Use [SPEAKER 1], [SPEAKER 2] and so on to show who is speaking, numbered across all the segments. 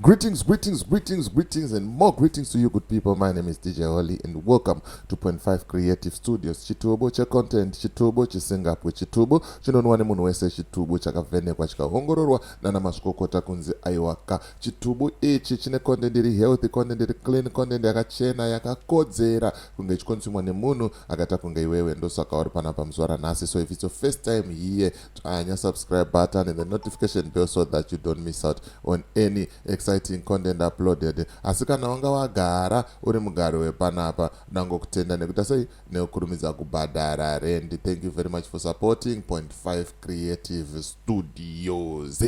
[SPEAKER 1] Greetings, greetings, greetings, greetings, and more greetings to you, good people. My name is DJ Holly, and welcome to Point Five Creative Studios. Chitubo cha content, chitubo chisingapwe, chitubo chinonwa nemunhu wese, chitubo chakavhenekwa chikaongororwa nana mazvikokota kunzi aiwaka Chitubu ichi chine content iri healthy, content iri clean, content yakachena yakakodzera kunge ichikonsumwa nemunhu akaita kunge iwewe. Ndosaka uri pana pamuzuva ranhasi. So if it's your first time here, tsvanya subscribe button and the notification bell so that you don't miss out on any exciting content uploaded. Asi kana wanga wagara uri mugari wepanapa, dango kutenda nekuita sei nekukurumidza kubhadhara rendi. Thank you very much for supporting Point 5 Creative Studios.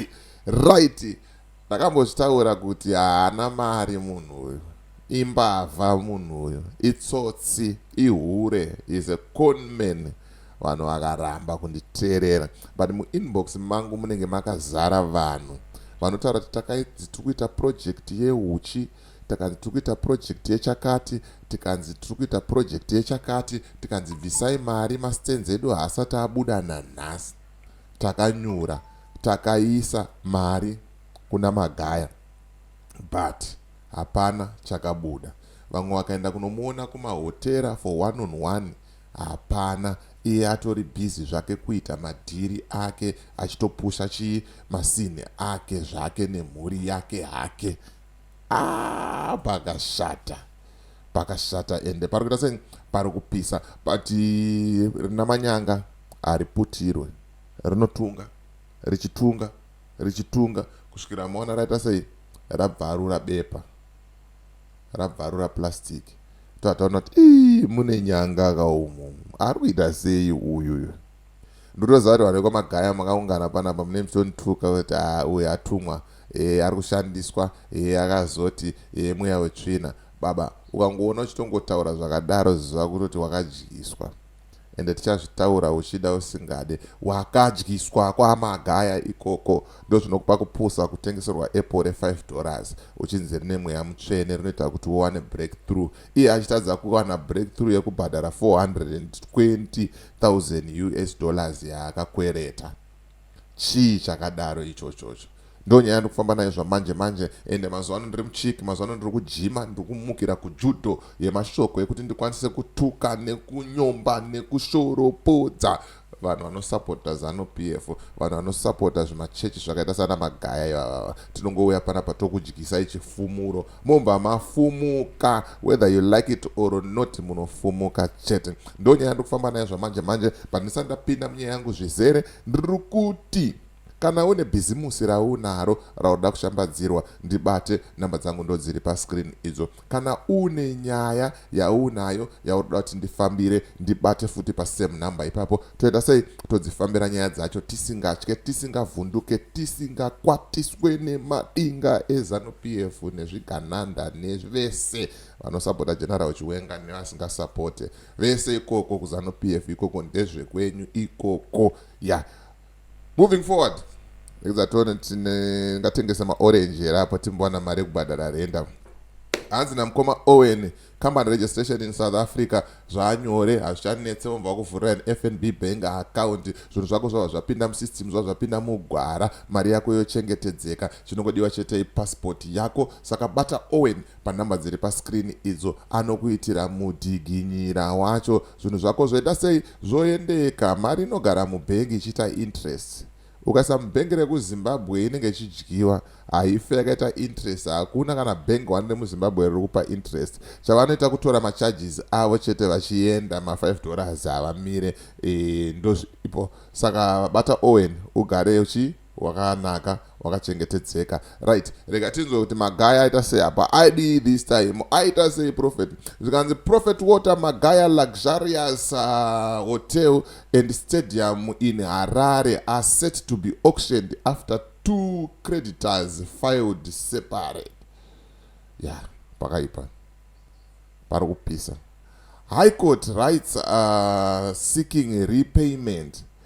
[SPEAKER 1] Right. Ndakambozvitaura kuti haana mari munhu uyu. Imbavha munhu uyu. Itsotsi. Ihure. He's a con man. Vanhu vakaramba kunditeerera. But muinbox mangu munenge makazara vanhu. Vanotaura kuti takanzi tiri kuita project yehuchi takanzi tiri kuita project yechakati tikanzi tiri kuita project yechakati tikanzi bvisai mari mastenzi edu haasati abuda nanhasi takanyura takaisa mari kuna Magaya but hapana chakabuda. Vamwe vakaenda kunomuona kumahotera for one on one hapana iye atori busy zvake kuita madhiri ake achitopusha chii masini ake zvake nemhuri yake hake. Ah pakashata. Pakashata ende pari kuita sei pari kupisa but rina manyanga hariputirwe rinotunga richitunga richitunga kusvikira maona raita sei rabvarura bepa rabvarura plastic tataona kuti mune nyanga kaumu ari kuita sei uyuyu ndotoziva kuti vanhu vekwamagaya makaungana panapa mune muchondituka kuti ah, uyu atumwa e, ari kushandiswa e, akazoti e, mweya wetsvina baba ukangoona uchitongotaura zvakadaro ziva kutoti wakadyiswa ende tichazvitaura uchida usingade wakadyiswa kwamagaya ikoko ndozvinokupa kupusa kutengeserwa apple re5 dollars uchinzi rine mweya mutsvene rinoita kuti uwane breakthrough iye achitadza kuwana breakthrough yekubhadhara 420 1000 us dollars yaakakwereta chii chakadaro ichochocho ndonyaya ndikufamba nayo zvamanje manje ende mazuva ano ndiri muchiki mazuva ano ndiri kujima ndiri kumukira kujudo yemashoko yekuti ndikwanise kutuka nekunyomba nekushoropodza vanhu vanosapota zanop f vanhu vanosapota zvimachechi zvakaita sana magaya ivavava tinongouya panapa tokudyisai chifumuro mobva mafumuka whether you like it or not munofumuka chete ndo nyaya ndikufamba nayo zvamanje manje but ndisati ndapinda munyaya yangu zvizere ndiri kuti kana une bhizimusi raunaro raunoda kushambadzirwa ndibate namba dzangu ndodziri pascreen idzo kana une nyaya yaunayo yauri kuda kuti ndifambire ndibate futi pasame number ipapo toita sei todzifambira nyaya dzacho tisingatye tisingavhunduke tisingakwatiswe nemadinga ezanu p f nezvigananda nevese vanosapota general chiwenga nevasingasupote vese ikoko kuzanu p f ikoko ndezvekwenyu ikoko ya yeah. moving forward ekuzatone tingatengesa maorange here apa timbowana mari yekubhadhara renda hanzi namukoma owen company registration in south africa zvaanyore hazvichanetse vomva vakuvhurira an fnb bank account zvinhu zvako zvava zvapinda musystem zvava zvapinda mugwara mari yako yochengetedzeka chinongodiwa chetei passport yako saka bata owen panhamba dziri pascreen idzo anokuitira mudhiginyira wacho Zvinhu zvako zvoita sei? Zvoendeka. Mari inogara mubhengi ichiita interest. Ukaisa mubhengi rekuZimbabwe inenge ichidyiwa, haife yakaita interest. Hakuna kana bhengi wani remuZimbabwe riri kupa interest. Chavanoita kutora macharges avo chete vachienda, ma5 dollars havamire. E, ndozviripo. Saka bata Owen ugare uchi. wakanaka wakachengetedzeka right rega tinzwe kuti magaya aita sei apa aidii this time aita sei prophet zvikanzi prophet water magaya luxurious uh, hotel and stadium in harare are set to be auctioned after two creditors filed separate ya yeah, pakaipa pari kupisa high court writes uh, seeking repayment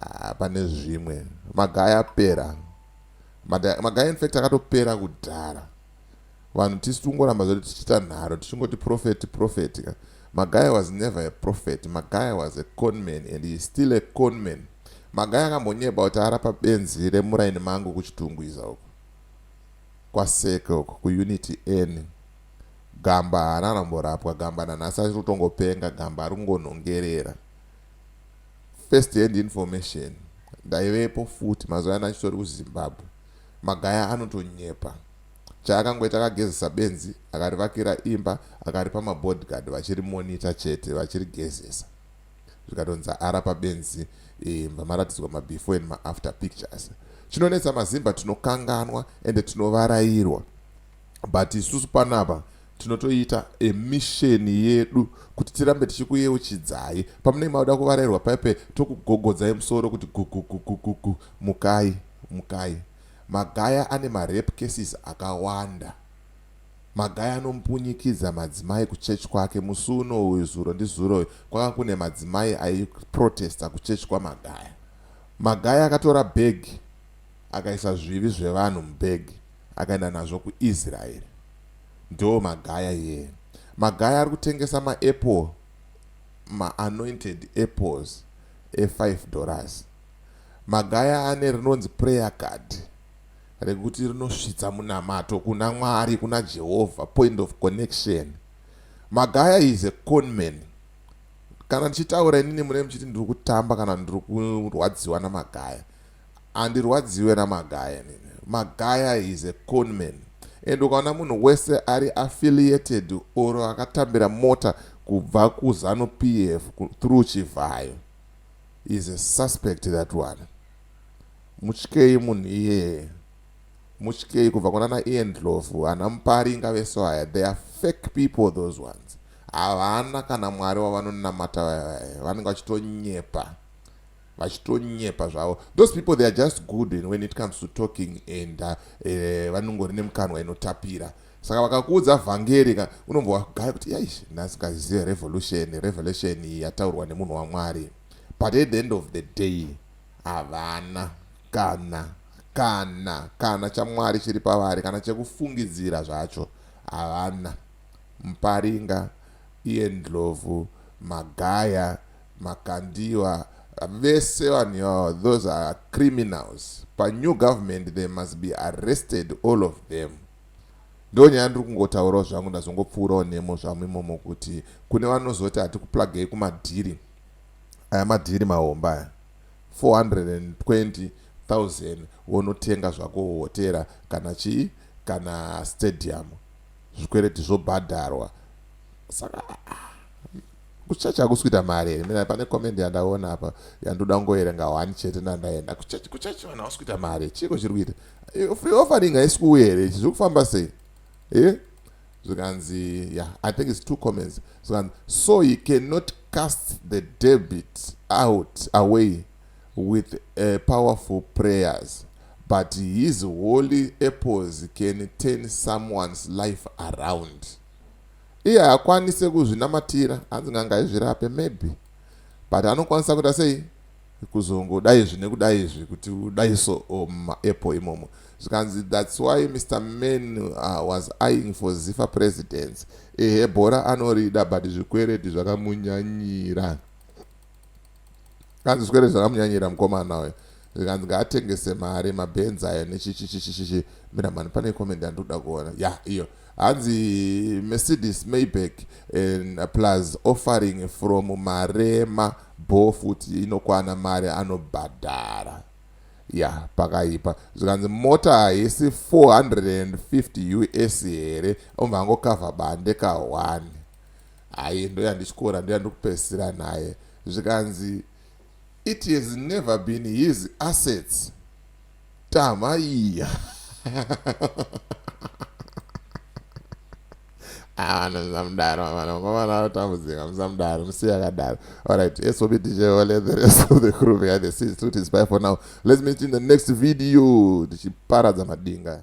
[SPEAKER 1] Ah, pane zvimwe magaya apera magaya infact akatopera kudhara vanhu tisi tingoramba zvedu tichiita nharo tichingoti profeti profeti ka magaya was never a prophet magaya was a conman and he still a conman magaya akambonyeba kuti arapa benzi remuraini mangu kuchitungwiza uku kwaseke uku kuunity n gamba haana aramborapwa gamba nanhasi achitotongopenga gamba ari kungonhongerera first hand information ndaivepo futi mazuva yana achitori kuzimbabwe magaya anotonyepa chaakangoita akagezesa benzi akarivakira imba akaripa mabodyguard vachirimonita chete vachirigezesa zvikatonzi ara pabenzi imba eh, maratidzwa mabefore and maafter pictures chinonetsa mazimba tinokanganwa ende tinovarairwa but isusu panapa tinotoita emisheni yedu kuti tirambe tichikuyeuchidzai pamunenge mauda kuvarairwa paipe tokugogodzai musoro kuti gugugugugugu mukai mukai magaya ane marape cases akawanda magaya anompunyikidza madzimai kuchechi kwake musi uno uyu zuro ndizuro uyu kwanga kune madzimai aiprotesta kuchechi kwamagaya magaya akatora bhegi akaisa zvivi zvevanhu mubhegi akaenda nazvo kuIsrael ndoo magaya here magaya ari kutengesa maapple maanointed apples e5 dollars magaya ane rinonzi prayer card rekuti rinosvitsa munamato kuna mwari kuna jehovha point of connection magaya is a conman kana ndichitaura inini mune muchiti ndiri kutamba kana ndiri kurwadziwa namagaya Handirwadziwe namagaya inini. Magaya is a conman and ukaona munhu wese ari affiliated or akatambira mota kubva kuzanu PF through Chivhayo is a suspect that one. Mutyei munhu iyeye. Mutyei kubva kuna na Ian Dlovu, ana Mpari ingave so haya. They are fake people those ones. Havana kana mwari wavanonamata vaya vaya. Vanenge vachitonyepa. vachitonyepa zvavo those people they are just good and when it comes to talking and uh, eh, vanongori nemukanwa inotapira saka vakakuudza vhangeri ka unombova kugaya kuti yaish ndasingazive revolution revelation yataurwa nemunhu wamwari but at the end of the day havana kana kana kana chamwari chiri pavari kana chekufungidzira zvacho havana muparinga iye ndlovu magaya Makandiwa vese vanhu ivava those are criminals pa new government they must be arrested all of them ndonyaya ndiri kungotaurawo zvangu ndazongopfuurawo nemo zvamu imomo kuti kune vanozoti hatikuplagei kumadhiri aya madhiri mahomba aya 420000 wonotenga zvako hotera kana chii kana stadium zvikwereti zvobhadharwa saka kuchurch hakusi kuita mari here mina pane comment yandaona apa yandoda kungoerenga one chete ndandaenda kuchurch kuchurch vanhu hausi kuita mari chiiko chiri kuita free offering haisi kuuya here ichi zviri kufamba sei e zvikanzi yeah i think its two comments zvikanzi so he cannot cast the debit out away with uh, powerful prayers but his holy apples can turn someone's life around Iye haakwanise kuzvinamatira hanzi n'anga izvirape maybe but anokwanisa kuita sei kuzongoda izvi nekuda izvi kuti udai so or mumaapple imomo zvikanzi thats why Mr Man uh, was eyeing for Zifa presidents ehe bhora anorida but zvikwereti zvakamunyanyira kaziswere zvakamunyanyira mukomana uyo zvikanzi ngaatengese mari mabenzi ayo nechichichichichichi mira mani pane comment yandikuda kuona ya yeah, iyo hanzi mercedes mayback and plus offering from marema bo futi inokwana mari anobhadhara ya yeah, pakaipa zvikanzi mota haisi 450 us here omva angokavha bande kahwani Hayi ndoyandityora ndoyandikupedzisira naye zvikanzi it has never been his assets tama iya avana ah, musamudaro avana mukomana anotambudzika musamudaro musiya akadaro alright esobi ticheole the rest of the crew behind the scenes to tisby for now let's meet in the next video tichiparadza madinga